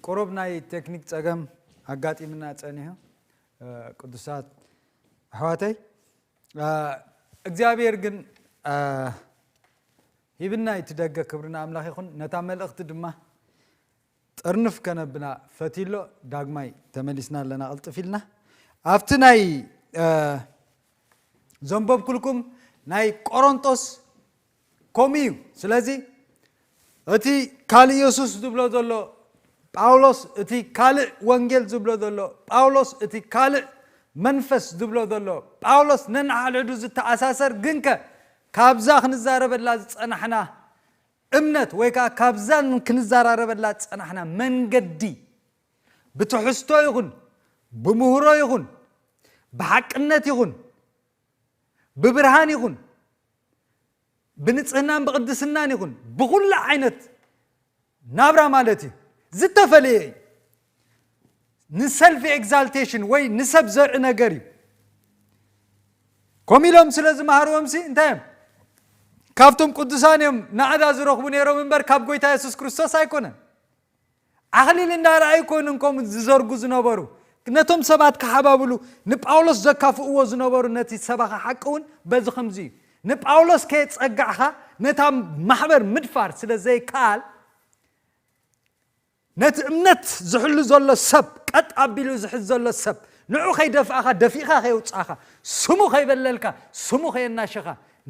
ቁሩብ ናይ ቴክኒክ ጸገም ኣጋጢምና ጸኒሑ ቅዱሳት ኣሕዋተይ እግዚኣብሔር ግን ሂብና እቲ ደገ ክብሪ ንኣምላኽ ይኹን ነታ መልእኽቲ ድማ ጥርንፍ ከነብላ ፈትሎ ዳግማይ ተመሊስና ኣለና ቅልጥፍ ኢልና ኣብቲ ናይ ዘንበብኩልኩም ናይ ቆሮንጦስ ከምኡ እዩ ስለዚ እቲ ካልእ የሱስ ዝብሎ ዘሎ ጳውሎስ እቲ ካልእ ወንጌል ዝብሎ ዘሎ ጳውሎስ እቲ ካልእ መንፈስ ዝብሎ ዘሎ ጳውሎስ ነንሓድሕዱ ዝተኣሳሰር ግንከ ካብዛ ክንዛረበላ ዝፀናሕና እምነት ወይ ከዓ ካብዛ ክንዘራረበላ ዝፀናሕና መንገዲ ብትሕዝቶ ይኹን ብምህሮ ይኹን ብሓቅነት ይኹን ብብርሃን ይኹን ብንጽህናን ብቕድስናን ይኹን ብኹሉ ዓይነት ናብራ ማለት እዩ ዝተፈለየ እዩ ንሰልፊ ኤግዛልቴሽን ወይ ንሰብ ዘርኢ ነገር እዩ ከምኡ ኢሎም ስለ ዝመሃርዎምሲ እንታይ እዮም ካብቶም ቅዱሳን እዮም ናዕዳ ዝረኽቡ ነይሮም እምበር ካብ ጎይታ የሱስ ክርስቶስ ኣይኮነን ኣኽሊል እንዳ ረኣዩ ኮይኖም ከምኡ ዝዘርጉ ዝነበሩ። ነቶም ሰባት ክሓባብሉ ንጳውሎስ ዘካፍእዎ ዝነበሩ ነቲ ሰባኺ ሓቂ እውን በዚ ከምዚ እዩ። ንጳውሎስ ከየጸጋዕካ ነታ ማሕበር ምድፋር ስለ ዘይከኣል ነቲ እምነት ዝሕሉ ዘሎ ሰብ ቀጥ ኣቢሉ ዝሕዝ ዘሎ ሰብ ንዑ ከይደፍኣኻ ደፊእኻ ከየውጻኻ ስሙ ከይበለልካ ስሙ ከየናሸኻ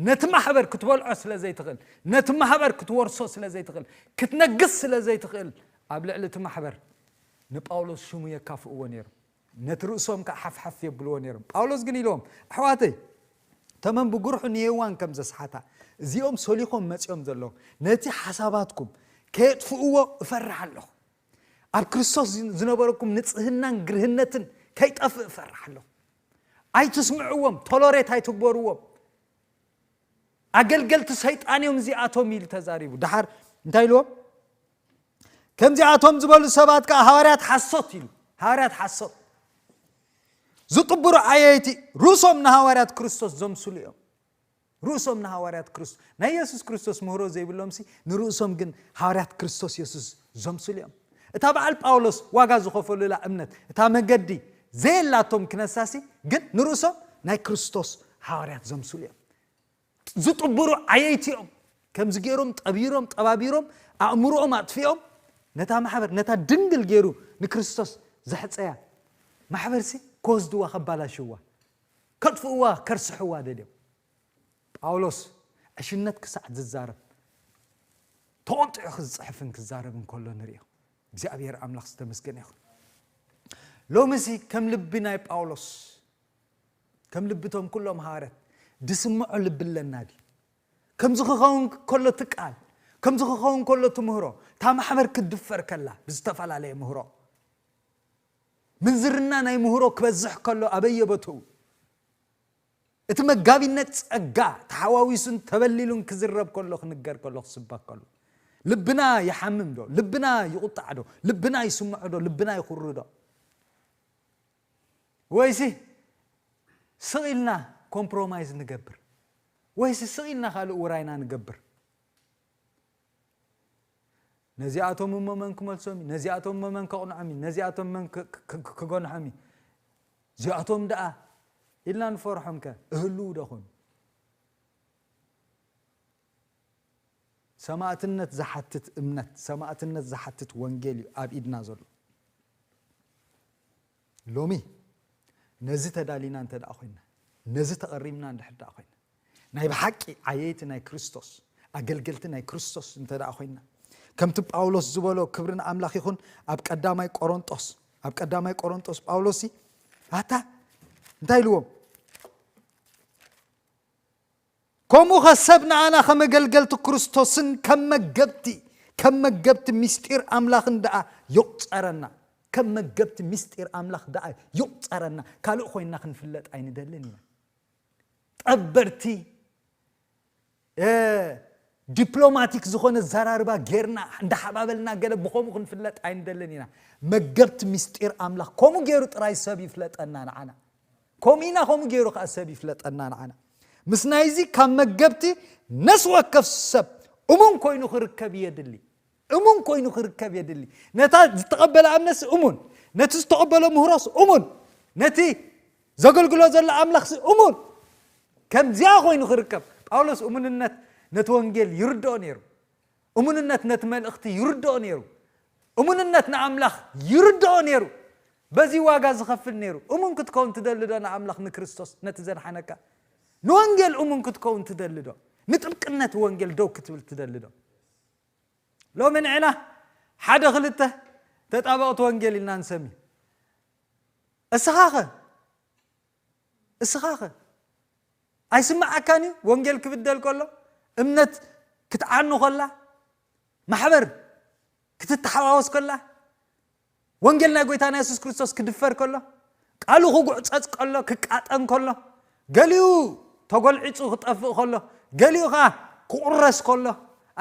ነቲ ማሕበር ክትበልዖ ስለ ዘይትኽእል፣ ነቲ ማህበር ክትወርሶ ስለ ዘይትኽእል፣ ክትነግስ ስለ ዘይትኽእል፣ ኣብ ልዕሊ እቲ ማሕበር ንጳውሎስ ሽሙ የካፍእዎ ነይሮም፣ ነቲ ርእሶም ከኣ ሓፍሓፍ የብልዎ ነይሮም። ጳውሎስ ግን ኢልዎም፣ ኣሕዋተይ፣ ተመን ብጉርሑ ንሄዋን ከም ዘስሓታ፣ እዚኦም ሰሊኾም መጺኦም ዘለዉ ነቲ ሓሳባትኩም ከየጥፍእዎ እፈርሕ ኣለኹ። ኣብ ክርስቶስ ዝነበረኩም ንጽህናን ግርህነትን ከይጠፍእ እፈርሕ ኣለኹ። ኣይትስምዕዎም ቶሎሬት ኣይትግበርዎም ኣገልገልቲ ሰይጣን እዮም እዚኣቶም ኢሉ ተዛሪቡ ድሓር እንታይ ኢልዎም ከምዚኣቶም ዝበሉ ሰባት ከዓ ሃዋርያት ሓሶት ኢሉ ሃዋርያት ሓሶት ዝጥብሩ ኣየይቲ ርእሶም ንሃዋርያት ክርስቶስ ዘምስሉ እዮም ርእሶም ንሃዋርያት ክርስቶ ናይ የሱስ ክርስቶስ ምህሮ ዘይብሎምሲ ንርእሶም ግን ሃዋርያት ክርስቶስ የሱስ ዘምስሉ እዮም። እታ በዓል ጳውሎስ ዋጋ ዝኸፈሉላ እምነት እታ መገዲ ዘየላቶም ክነሳሲ ግን ንርእሶም ናይ ክርስቶስ ሃዋርያት ዘምስሉ እዮም። ዝጥብሩ ዓየይቲ እዮም። ከምዚ ገይሮም ጠቢሮም ጠባቢሮም ኣእምሮኦም ኣጥፊኦም ነታ ማሕበር ነታ ድንግል ገይሩ ንክርስቶስ ዘሕፀያ ማሕበርሲ ክወስድዋ ከባላሽዋ ከጥፍእዋ ከርስሕዋ ደልዮም ጳውሎስ ዕሽነት ክሳዕ ዝዛረብ ተቖጢዑ ክዝጽሕፍን ክዛረብን ከሎ ንርእዮ እግዚኣብሔር ኣምላኽ ዝተመስገነ ይኹን ሎምሲ ከም ልቢ ናይ ጳውሎስ ከም ልብቶም ኩሎም ሃዋርያት ድስምዖ ልቢ ኣለና ድዩ ከምዚ ክኸውን ከሎ ትቃል ከምዚ ክኸውን ከሎ ትምህሮ እታ ማሕበር ክትድፈር ከላ ብዝተፈላለየ ምህሮ ምንዝርና ናይ ምህሮ ክበዝሕ ከሎ ኣበየቦትኡ እቲ መጋቢነት ጸጋ ተሓዋዊሱን ተበሊሉን ክዝረብ ከሎ ክንገር ከሎ ክስበክ ከሎ ልብና ይሓምም ዶ ልብና ይቁጣዕ ዶ ልብና ይስምዖ ዶ ልብና ይኹሪ ዶ ወይሲ ስቕ ኢልና ኮምፕሮማይዝ ንገብር ወይሲ ስቕ ኢልና ካልእ ውራይና ንገብር ነዚኣቶም እሞ መን ክመልሶም እዩ ነዚኣቶም እሞ መን ከቕንዖም እዩ ነዚኣቶም መን ክገንሖም እዩ እዚኣቶም ደኣ ኢልና ንፈርሖም ከ እህልው ደኹን ሰማእትነት ዝሓትት እምነት ሰማእትነት ዝሓትት ወንጌል እዩ ኣብ ኢድና ዘሎ ሎሚ ነዚ ተዳሊና እንተ ደኣ ዀይና፣ ነዚ ተቘሪብና እንድሕር ደኣ ዀይና፣ ናይ ብሓቂ ዓየይቲ ናይ ክርስቶስ፣ ኣገልገልቲ ናይ ክርስቶስ እንተ ደኣ ዀይና፣ ከምቲ ጳውሎስ ዝበሎ፣ ክብሪ ንኣምላኽ ይኹን፣ ኣብ ቀዳማይ ቈረንጦስ፣ ኣብ ቀዳማይ ቈረንጦስ ጳውሎስሲ ኣታ እንታይ ኢልዎም? ከምኡኸ ሰብ ንኣና ከም ኣገልገልቲ ክርስቶስን ከም መገብቲ ከም መገብቲ ምስጢር ኣምላኽን ደኣ ይቝጸረና። ከም መገብቲ ምስጢር ኣምላኽ ደኣ ይቝጸረና፣ ካልእ ኮይንና ክንፍለጥ ኣይንደልን ኢና። ጠበርቲ ዲፕሎማቲክ ዝኾነ ኣዘራርባ ጌርና እንዳሓባበልና ገለ ብኸምኡ ክንፍለጥ ኣይንደልን ኢና። መገብቲ ምስጢር ኣምላኽ ከምኡ ገይሩ ጥራይ ሰብ ይፍለጠና ንዓና። ከምኡ ኢና ከምኡ ገይሩ ከኣ ሰብ ይፍለጠና ንዓና። ምስ ናይዚ ካብ መገብቲ ነፍሲ ወከፍ ሰብ እሙን ኮይኑ ክርከብ የድሊ። እሙን ኮይኑ ክርከብ የድሊ። ነታ ዝተቐበላ እምነትሲ እሙን፣ ነቲ ዝተቐበሎ ምህሮስ እሙን፣ ነቲ ዘገልግሎ ዘሎ ኣምላኽሲ እሙን ከምዚኣ ኮይኑ ክርከብ ጳውሎስ እሙንነት ነቲ ወንጌል ይርድኦ ነይሩ። እሙንነት ነቲ መልእኽቲ ይርድኦ ነይሩ። እሙንነት ንኣምላኽ ይርድኦ ነይሩ። በዚ ዋጋ ዝኸፍል ነይሩ። እሙን ክትከውን ትደሊዶ ንኣምላኽ ንክርስቶስ ነቲ ዘድሓነካ? ንወንጌል እሙን ክትከውን ትደሊዶ? ንጥብቅነት ወንጌል ደው ክትብል ትደሊዶ? ሎሚ ንዕና ሓደ ክልተ ተጣበቕቲ ወንጌል ኢልና ንሰሚ። እስኻኸ? እስኻኸ ኣይስምዓካን እዩ ወንጌል ክብደል ከሎ እምነት ክትዓኑ ከላ ማሕበር ክትተሓዋወስ ከላ ወንጌል ናይ ጎይታና የሱስ ክርስቶስ ክድፈር ከሎ ቃሉ ክጉዕፀፅ ከሎ ክቃጠን ከሎ ገሊኡ ተጎልዒፁ ክጠፍእ ከሎ ገሊኡ ከዓ ክቁረስ ከሎ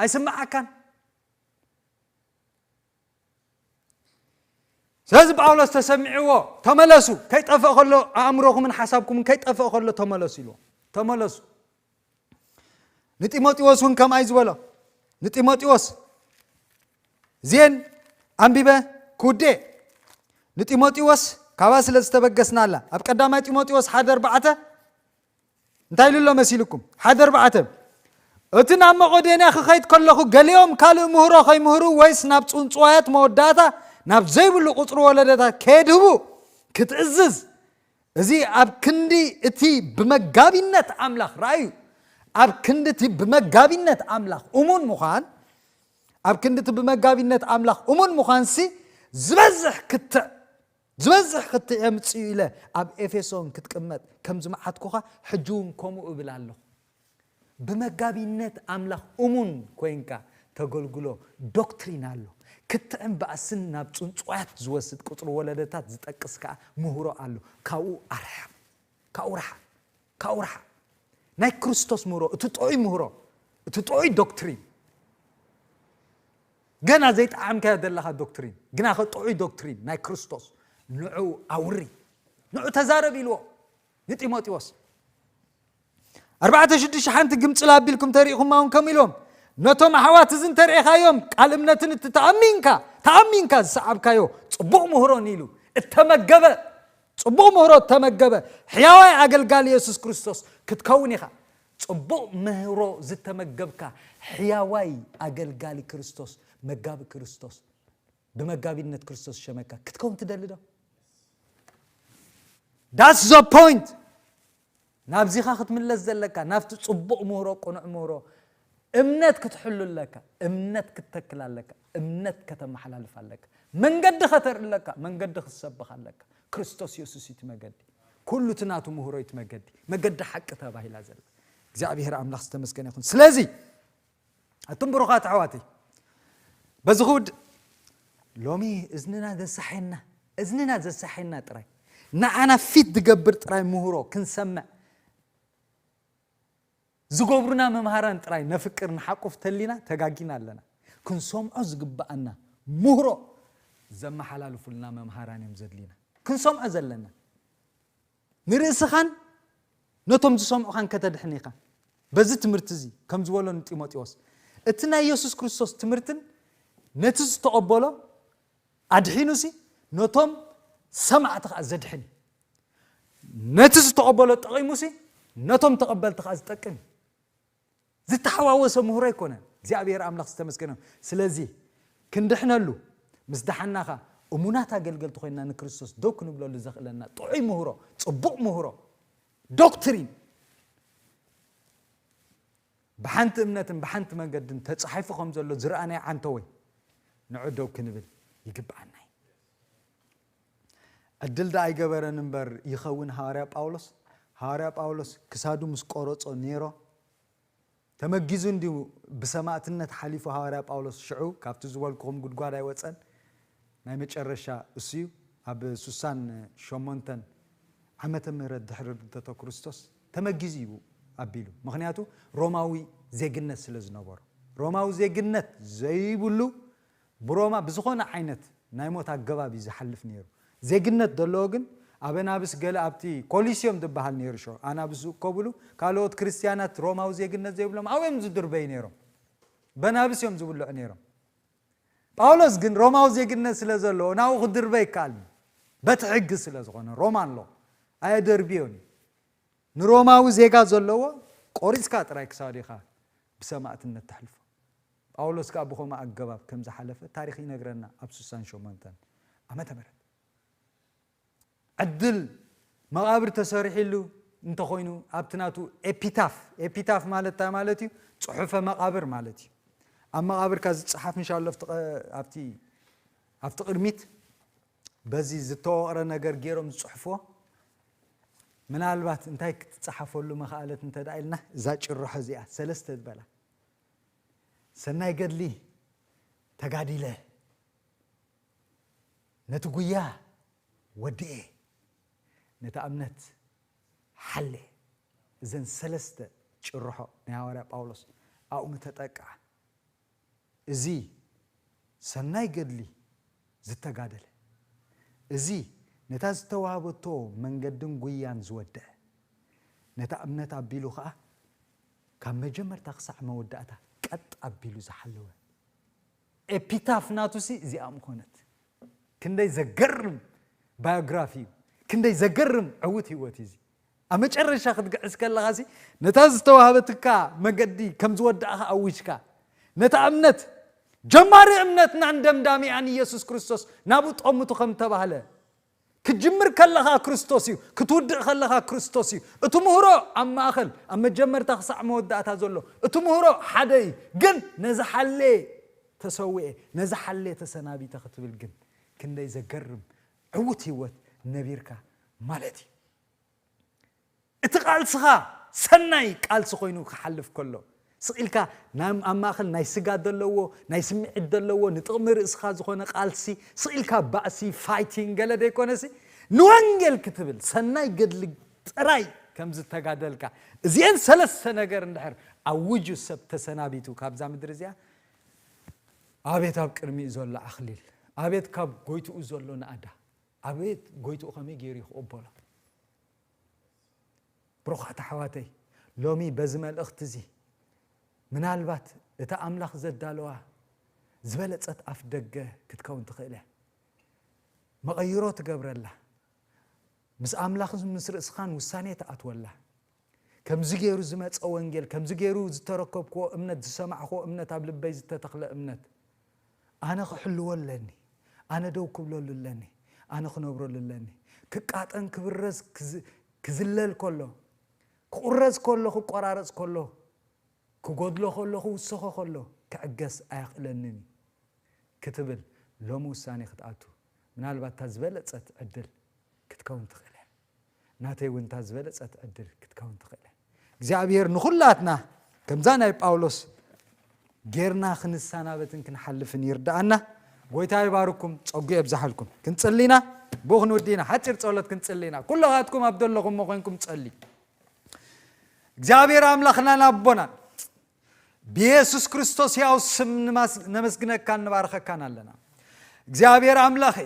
ኣይስምዓካን ስለዚ ጳውሎስ ተሰሚዕዎ ተመለሱ ከይጠፍእ ከሎ ኣእምሮኹምን ሓሳብኩምን ከይጠፍእ ከሎ ተመለሱ ኢልዎ ተመለሱ ንጢሞጢዎስ እውን ከምኣይ ዝበሎ ንጢሞጢዎስ ዜን ኣንቢበ ክውዴ ንጢሞጢዎስ ካብኣ ስለ ዝተበገስና ኣላ ኣብ ቀዳማይ ጢሞጢዎስ ሓደ ኣርባዕተ እንታይ ኢሉ ኣሎ መሲሉኩም? ሓደ ኣርባዕተ። እቲ ናብ መቐዶንያ ክኸይድ ከለኹ ገሊኦም ካልእ ምህሮ ከይምህሩ ወይስ ናብ ጽንጽዋያት መወዳእታ ናብ ዘይብሉ ቁጽሪ ወለደታት ከየድህቡ ክትእዝዝ እዚ ኣብ ክንዲ እቲ ብመጋቢነት ኣምላኽ ራእዩ ኣብ ክንዲ እቲ ብመጋቢነት ኣምላኽ እሙን ምዃን ኣብ ክንዲ እቲ ብመጋቢነት ኣምላኽ እሙን ምዃንሲ ዝበዝሕ ክትዕ ዝበዝሕ ክትዕ የምጽኡ ኢለ ኣብ ኤፌሶን ክትቅመጥ ከም ዝመዓትኩኻ ሕጂውን ከምኡ እብል ኣለኹ። ብመጋቢነት ኣምላኽ እሙን ኮይንካ ተገልግሎ ዶክትሪን ኣሎ። ክትዕን ባእስን ናብ ጽንጹዋያት ዝወስድ ቁጽሪ ወለደታት ዝጠቅስ ከኣ ምህሮ ኣሎ። ካብኡ ኣርሕቕ። ካብኡ ርሓቕ። ካብኡ ርሓቕ። ናይ ክርስቶስ ምህሮ፣ እቲ ጥዑይ ምህሮ፣ እቲ ጥዑይ ዶክትሪን፣ ገና ዘይጠዓምካዮ ዘለኻ ዶክትሪን፣ ግናኸ ጥዑይ ዶክትሪን ናይ ክርስቶስ፣ ንዑ ኣውሪ፣ ንዑ ተዛረብ ኢልዎ ንጢሞጢዎስ። ኣርባዕተ ሽዱሽተ ሓንቲ ግምፅል ኣቢልኩም ተሪኢኹማ እውን ከምኡ ኢልዎም ነቶም ኣሕዋት እዚ እንተርእኻዮም ቃል እምነትን እቲ ተኣሚንካ ተኣሚንካ ዝሰዓብካዮ ፅቡቕ ምህሮን ኢሉ እተመገበ ጽቡቕ ምህሮ እተመገበ ሕያዋይ ኣገልጋሊ የሱስ ክርስቶስ ክትከውን ኢኻ። ጽቡቕ ምህሮ ዝተመገብካ ሕያዋይ ኣገልጋሊ ክርስቶስ፣ መጋቢ ክርስቶስ፣ ብመጋቢነት ክርስቶስ ዝሸመካ ክትከውን ትደሊ ዶ? That's the point! ናብዚኻ ክትምለስ ዘለካ ናብቲ ጽቡቕ ምህሮ ቅኑዕ ምህሮ እምነት ክትሕሉ ኣለካ እምነት ክትተክል ኣለካ እምነት ከተመሓላልፍ ኣለካ መንገዲ ከተርኢ ኣለካ መንገዲ ክትሰብኽ ኣለካ ክርስቶስ የሱስ እዩ እቲ መገዲ ኩሉ እቲ ናቱ ምህሮ እዩ እቲ መገዲ መገዲ ሓቂ ተባሂላ ዘላ እግዚኣብሔር ኣምላኽ ዝተመስገነ ይኹን ስለዚ ኣቱም ብሩኻት ኣሕዋተይ በዚ ክውድእ ሎሚ እዝንና ዘሳሐየና እዝንና ዘሳሐየና ጥራይ ንዓና ፊት ዝገብር ጥራይ ምህሮ ክንሰምዕ ዝገብሩና መምሃራን ጥራይ ነፍቅር ንሓቁፍ ተሊና ተጋጊና ኣለና ክንሰምዖ ዝግብኣና ምህሮ ዘመሓላልፉልና መምሃራን እዮም ዘድልዩና ክንሰምዖ ዘለና ንርእስኻን ነቶም ዝሰምዑኻን ከተድሕን ኢኻ። በዚ ትምህርቲ እዚ ከም ዝበሎ ንጢሞቴዎስ፣ እቲ ናይ የሱስ ክርስቶስ ትምህርትን ነቲ ዝተቐበሎ ኣድሒኑሲ ነቶም ሰማዕቲ ኸኣ ዘድሕን እዩ። ነቲ ዝተቐበሎ ጠቒሙሲ ነቶም ተቐበልቲ ኸኣ ዝጠቅም እዩ። ዝተሓዋወሰ ምህሮ ኣይኮነን እግዚኣብሔር ኣምላኽ ዝተመስገነ ይኹን ስለዚ ክንድሕነሉ ምስ ደሓንና ከኣ እሙናት ኣገልገልቲ ኮይንና ንክርስቶስ ደው ክንብለሉ ዘኽእለና ጥዑይ ምህሮ ጽቡቕ ምህሮ ዶክትሪን ብሓንቲ እምነትን ብሓንቲ መንገድን ተጻሒፉ ከም ዘሎ ዝረኣናዮ ዓንተወይ ንዑ ደው ክንብል ይግብኣና እዩ ዕድል ደኣ ኣይገበረን እምበር ይኸውን ሃዋርያ ጳውሎስ ሃዋርያ ጳውሎስ ክሳዱ ምስ ቆረጾ ኔሮ ተመጊዙ እንዲዩ ብሰማእትነት ሓሊፉ ሃዋርያ ጳውሎስ ሽዑ ካብቲ ዝበልኩኹም ጉድጓድ ኣይወጸን ናይ መጨረሻ እሱዩ ኣብ ሱሳን ሸሞንተን ዓመተ ምህረት ድሕሪ ርድተቶ ክርስቶስ ተመጊዙ እዩ ኣቢሉ ምኽንያቱ ሮማዊ ዜግነት ስለ ዝነበሮ ሮማዊ ዜግነት ዘይብሉ ብሮማ ብዝኾነ ዓይነት ናይ ሞት ኣገባብ እዩ ዝሓልፍ ነይሩ። ዜግነት ዘለዎ ግን ኣብ ኣናብስ ገለ ኣብቲ ኮሊስዮም ዝበሃል ነይሩ ሸው ኣናብስ ዝእከቡሉ ካልኦት ክርስትያናት ሮማዊ ዜግነት ዘይብሎም ኣብኡ እዮም ዝድርበዩ ነይሮም። በናብስ እዮም ዝብልዑ ነይሮም። ጳውሎስ ግን ሮማዊ ዜግነት ስለ ዘለዎ ናብኡ ክድርበ ይከኣልን እዩ። በቲ ሕጊ ስለ ዝኾነ ሮማን ሎ ኣየደርብዮን እዩ። ንሮማዊ ዜጋ ዘለዎ ቆሪጽካ ጥራይ ክሳዱ ኢኻ ብሰማእትነት ተሕልፎ። ጳውሎስ ከኣ ብኸምኡ ኣገባብ ከም ዝሓለፈ ታሪኽ ይነግረና ኣብ ስሳን ሸሞንተን ዓመተ ምሕረት ዕድል መቓብር ተሰሪሒሉ እንተ ኾይኑ ኣብቲ ናቱ ኤፒታፍ ኤፒታፍ ማለት እንታይ ማለት እዩ ጽሑፈ መቓብር ማለት እዩ ኣብ መቓብርካ ዝጸሓፍ እንሻሎ ኣብቲ ኣብቲ ቅድሚት በዚ ዝተወቕረ ነገር ገይሮም ዝጽሕፎ ምናልባት እንታይ ክትጸሓፈሉ መኽኣለት እንተ ኢልና እዛ ጭርሖ እዚኣ ሰለስተ ዝበላ ሰናይ ገድሊ ተጋዲለ ነቲ ጉያ ወድኤ ነታ እምነት ሓሌ እዘን ሰለስተ ጭርሖ ናይ ሃዋርያ ጳውሎስ ኣብኡ ምተጠቅዓ እዚ ሰናይ ገድሊ ዝተጋደለ እዚ ነታ ዝተዋህበቶ መንገድን ጉያን ዝወድዐ ነታ እምነት ኣቢሉ ኸኣ ካብ መጀመርታ ክሳዕ መወዳእታ ቀጥ ኣቢሉ ዝሓለወ ኤፒታፍ ናቱሲ እዚኣ ምኾነት። ክንደይ ዘገርም ባዮግራፊ እዩ፣ ክንደይ ዘገርም ዕዉት ህይወት እዩ እዚ። ኣብ መጨረሻ ክትግዕዝ ከለኻሲ ነታ ዝተዋህበትካ መገዲ ከም ዝወዳእኻ ኣዊጅካ ነታ እምነት ጀማሪ እምነትናን ደምዳሚኣን ኢየሱስ ክርስቶስ ናብኡ ጠምቱ ከም ተባህለ ክትጅምር ከለኻ ክርስቶስ እዩ፣ ክትውድእ ከለኻ ክርስቶስ እዩ። እቲ ምህሮ ኣብ ማእኸል፣ ኣብ መጀመርታ ክሳዕ መወዳእታ ዘሎ እቲ ምህሮ ሓደ እዩ። ግን ነዚ ሓልየ ተሰዊኤ፣ ነዚ ሓልየ ተሰናቢተ ክትብል ግን ክንደይ ዘገርም ዕዉት ህይወት ነቢርካ ማለት እዩ። እቲ ቃልስኻ ሰናይ ቃልሲ ኮይኑ ክሓልፍ ከሎ፣ ስቕ ኢልካ ናብ ኣብ ማእከል ናይ ስጋ ዘለዎ፣ ናይ ስምዒት ዘለዎ፣ ንጥቕሚ ርእስኻ ዝኾነ ቃልሲ፣ ስቕ ኢልካ ባእሲ፣ fighting፣ ገለ ዘይኮነሲ፣ ንወንጌል ክትብል ሰናይ ገድሊ ጥራይ ከም ዝተጋደልካ፣ እዚኤን ሰለስተ ነገር እንድሕር ኣውጁ ሰብ ተሰናቢቱ ካብዛ ምድሪ እዚኣ፣ ኣቤት ኣብ ቅድሚኡ ዘሎ ኣኽሊል! ኣቤት ካብ ጎይትኡ ዘሎ ናእዳ! ኣቤት ጎይትኡ ከመይ ገይሩ ይክቕበሎ። ብሩኻት ኣሕዋተይ ሎሚ በዚ መልእኽቲ እዚ ምናልባት እታ ኣምላኽ ዘዳለዋ ዝበለጸት ኣፍ ደገ ክትከውን ትኽእል እያ መቐይሮ ትገብረላ ምስ ኣምላኽ ምስ ርእስኻን ውሳኔ ትኣትወላ ከምዚ ገይሩ ዝመጸ ወንጌል፣ ከምዚ ገይሩ ዝተረከብክዎ እምነት፣ ዝሰማዕክዎ እምነት፣ ኣብ ልበይ ዝተተኽለ እምነት፣ ኣነ ክሕልዎ ኣለኒ፣ ኣነ ደው ክብለሉ ኣለኒ፣ ኣነ ክነብረሉ ኣለኒ። ክቃጠን ክብረዝ ክዝለል ከሎ፣ ክቑረዝ ከሎ ክቆራረጽ ከሎ፣ ክጎድሎ ከሎ ክውሰኾ ከሎ ክዕገስ ኣየኽእለንን እዩ ክትብል ሎሚ ውሳኔ ክትኣቱ ምናልባት እታ ዝበለጸት ዕድል ክትከውን ትኽእል እያ። ናተይ እውን እታ ዝበለጸት ዕድል ክትከውን ትኽእል እግዚኣብሔር ንኹላትና ከምዛ ናይ ጳውሎስ ጌርና ክንሰናበትን ክንሓልፍን ይርዳኣና ጎይታ ይባርኩም ጸጉ የብዛሓልኩም ክንጽሊና ብኡ ክንውዲና ሓፂር ጸሎት ክንጽሊና ኩሎኻትኩም ኣብ ዘለኹሞ ኮንኩም ጸልዩ እግዚኣብሔር ኣምላኽናን ኣቦናን ብየሱስ ክርስቶስ ሕያው ስም ነመስግነካን ንባርኸካን ኣለና እግዚኣብሔር ኣምላኸ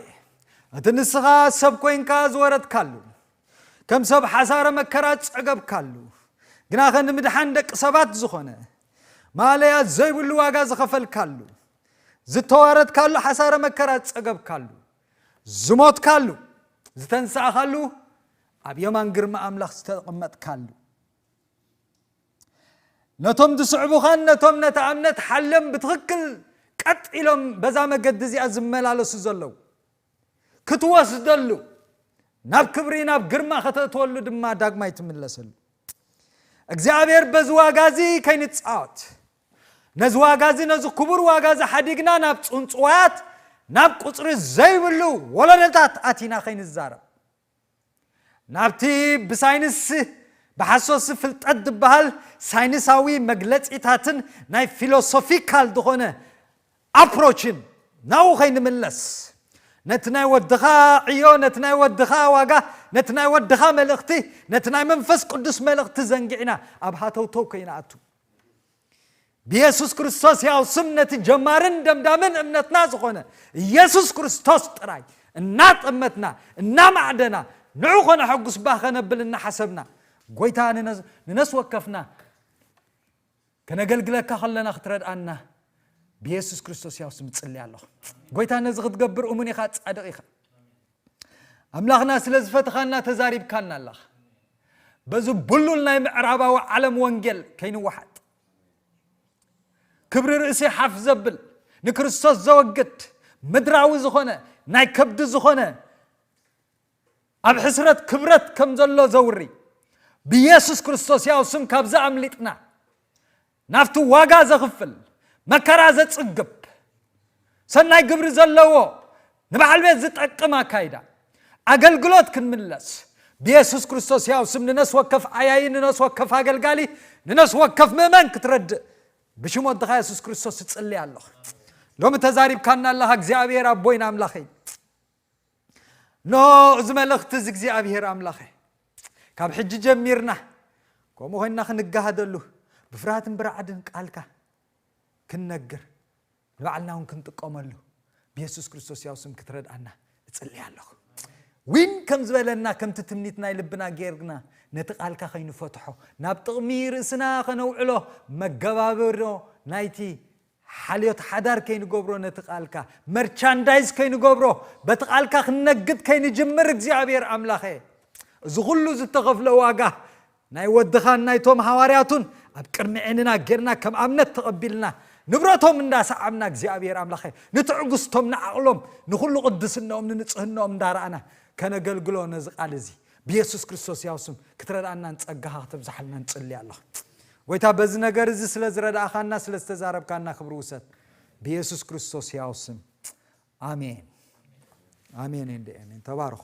እቲ ንስኻ ሰብ ኮይንካ ዝወረድካሉ ከም ሰብ ሓሳረ መከራ ዝጸገብካሉ ግናኸ ንምድሓን ደቂ ሰባት ዝኾነ ማለያ ዘይብሉ ዋጋ ዝኸፈልካሉ ዝተዋረድካሉ ሓሳረ መከራ ዝጸገብካሉ ዝሞትካሉ ዝተንሳእኻሉ ኣብ የማን ግርማ ኣምላኽ ዝተቐመጥካሉ ነቶም ዝስዕቡኻን ነቶም ነታ እምነት ሓልዮም ብትኽክል ቀጥ ኢሎም በዛ መገዲ እዚኣ ዝመላለሱ ዘለዉ ክትወስደሉ ናብ ክብሪ ናብ ግርማ ከተእትወሉ ድማ ዳግማይ ትምለሰሉ እግዚኣብሔር በዚ ዋጋ እዚ ከይንፃወት ነዚ ዋጋ እዚ ነዚ ክቡር ዋጋ እዚ ሓዲግና ናብ ፅንፅዋያት ናብ ቁፅሪ ዘይብሉ ወለዶታት ኣቲና ከይንዛረብ ናብቲ ብሳይንስ ብሓሶት ፍልጠት ዝበሃል ሳይንሳዊ መግለጺታትን ናይ ፊሎሶፊካል ዝኾነ ኣፕሮችን ናብኡ ከይንምለስ ነቲ ናይ ወድኻ ዕዮ ነቲ ናይ ወድኻ ዋጋ ነቲ ናይ ወድኻ መልእኽቲ ነቲ ናይ መንፈስ ቅዱስ መልእኽቲ ዘንጊዕና ኣብ ሃተውተው ከይንኣቱ ብየሱስ ክርስቶስ ሕያው ስም ነቲ ጀማርን ደምዳምን እምነትና ዝኾነ ኢየሱስ ክርስቶስ ጥራይ እናጠመትና እናማዕደና ንዑ ከነሐጉስ ባህ ከነብል እናሓሰብና ጎይታ ንነስ ወከፍና ከነገልግለካ ከለና ክትረድኣና ብየሱስ ክርስቶስ ያው ስም ጽልያ ኣለኹ ጎይታ ነዚ ክትገብር እሙን ኢኻ ጻድቕ ኢኻ ኣምላኽና ስለ ዝፈትኻና ተዛሪብካና ኣለኻ በዚ ብሉል ናይ ምዕራባዊ ዓለም ወንጌል ከይንወሓጥ ክብሪ ርእሲ ሓፍ ዘብል ንክርስቶስ ዘወግድ ምድራዊ ዝኾነ ናይ ከብዲ ዝኾነ ኣብ ሕስረት ክብረት ከም ዘሎ ዘውሪ ብየሱስ ክርስቶስ ያው ስም ካብዚ ኣምሊጥና ናብቲ ዋጋ ዘኽፍል፣ መከራ ዘጽግብ፣ ሰናይ ግብሪ ዘለዎ፣ ንበዓል ቤት ዝጠቅም ኣካይዳ ኣገልግሎት ክንምለስ፣ ብየሱስ ክርስቶስ ሕያው ስም ንነፍሲ ወከፍ ዓያዪ፣ ንነፍሲ ወከፍ ኣገልጋሊ፣ ንነፍሲ ወከፍ ምእመን ክትረድእ ብሽም ወድኻ የሱስ ክርስቶስ እጽሊ ኣሎኹ። ሎሚ ተዛሪብካና ኣለኻ እግዚኣብሔር ኣቦይን ኣምላኸይን። እነሆ እዚ መልእኽቲ እዚ እግዚኣብሄር ኣምላኸ ካብ ሕጂ ጀሚርና ከምኡ ኮይንና ክንጋሃደሉ ብፍርሃትን ብራዕድን ቃልካ ክንነግር ንባዕልና እውን ክንጥቀመሉ ብየሱስ ክርስቶስ ያው ስም ክትረድኣና እጽልይ ኣለኹ ዊን ከም ዝበለና ከምቲ ትምኒት ናይ ልብና ጌርና ነቲ ቃልካ ከይንፈትሖ ናብ ጥቕሚ ርእስና ከነውዕሎ መገባብሮ ናይቲ ሓልዮት ሓዳር ከይንገብሮ ነቲ ቃልካ መርቻንዳይዝ ከይንገብሮ በቲ ቃልካ ክንነግድ ከይንጅምር እግዚኣብሔር ኣምላኸ እዚ ኩሉ ዝተኸፍለ ዋጋ ናይ ወድኻን ናይቶም ሃዋርያቱን ኣብ ቅድሚ ዕንና ጌርና ከም ኣብነት ተቐቢልና ንብረቶም እንዳሰዓብና እግዚኣብሔር ኣምላኸ ንትዕግስቶም ንዓቕሎም ንኹሉ ቅድስነኦም ንንፅህነኦም እንዳረኣና ከነገልግሎ ነዚ ቃል እዚ ብየሱስ ክርስቶስ ያው ስም ክትረድኣናን ፀጋኻ ክተብዛሓልና ንፅሊ ኣለኹ ጐይታ በዚ ነገር እዚ ስለ ዝረዳእኻና ስለ ዝተዛረብካና ክብሪ ውሰድ ብየሱስ ክርስቶስ ሕያው ስም ኣሜን ኣሜን እንደ ኣሜን ተባረኹ